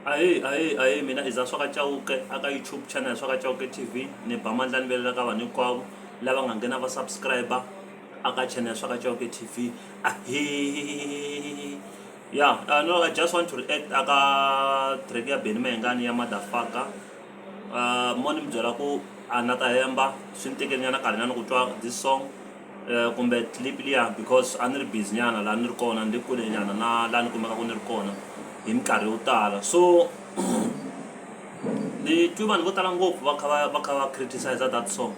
ahee ahee ahee mina i za swa ka cawuke aka youtube channel swa ka cawuke tv ni ba mandla ni velela ka vanhu hinkwavo lava nga nghena va subscriber aka channel swa ka cawuke tv ahee ya uh, no i just want to react aka track ya beni mahengani ya madafaka uh, mo ni mi byela ku a na ta hemba swi ni tekeli nyana karhi nyana ku twa this song um kumbe clip liya because a ni ri busy nyana laha ni ri kona ni ri kule nyana na laha ni kumekaka ni ri kona hi minkarhi yo tala so ni twi vanhu vo tala ngopfu va kha va va kha va criticize that song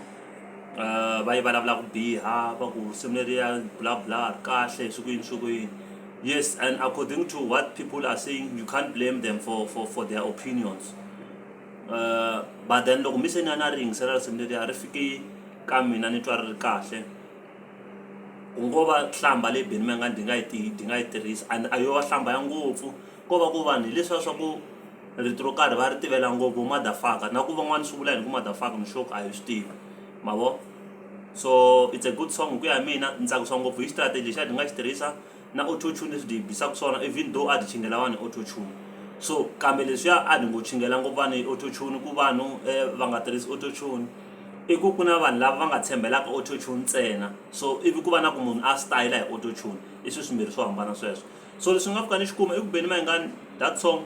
um va yi vulavula ku biha va ku risimu leriya bla bla ri kahle swi ku yini swi ku yini yes and according to what people are saying you can't blame them for for for their opinions um but then loko mi se ni a ni a ri yingisela risimu leriya ri fike ka mina ni twa ri ri kahle ku ngo va hlamba leyi Benny Mayengani ndi nga yi tihi ndi nga yi tirhisa and a yo va hlamba ya ngopfu ko va ku vanhu hi leswiya swa ku rito ro karhi va ri tivela ngopfu vo madafaka na ku van'wani swi vula yini ku madafaka ni sure ku a hi swi tivi ma vo so it's a good song hi ku ya hi mina ni tsakisa ngopfu hi xitarateni lexiya ni nga xi tirhisa. na auto tune leswi hi bisaka swona even though a hi chingela vanhu auto tune so kambe leswiya a ni ngo chingela ngopfu vanhu hi auto tune ku vanhu va nga tirhisi auto tune i ku ku na vanhu lava va nga tshembelaka auto tune ntsena so ivi ku va na ku munhu a stayela hi auto tune i swilo swimbirhi swo hambana sweswo so leswi nga pfuka ni xi kuma i ku benimangani that song.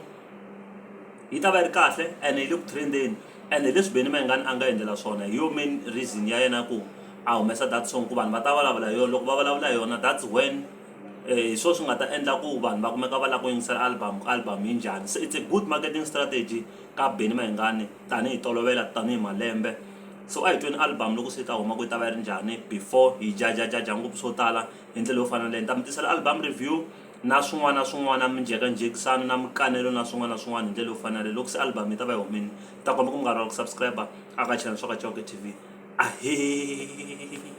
yi ta va yi ri kahle ene yi le ku trendeni ene leswi Benny Mayengani a nga endlela swona hi yo main reason ya yena ku a humesa that song ku vanhu va ta vulavula hi yona loko va vulavula hi yona that's when hi swona swi nga ta endla ku vanhu va kumeka va lava ku yingisela album ku album yi njhani se it's a good marketing strategy ka Benny Mayengani tanihi tolovela tanihi malembe so a hi tweni album loko se yi ta huma ku yi ta va yi ri njhani before hi jajajaja ngopfu swo tala hi ndlela yo fana na leyi ni ta mi tisela album review. na swin'wana na swin'wana minjhekanjhekisano na minkanelo na swin'wana na swin'wana hi ndlela yo fanela loko se album yi ta va yi humile ta komba ku mi nga rivala ku subscribe a ka channel swa ka Chauke T_V ahee.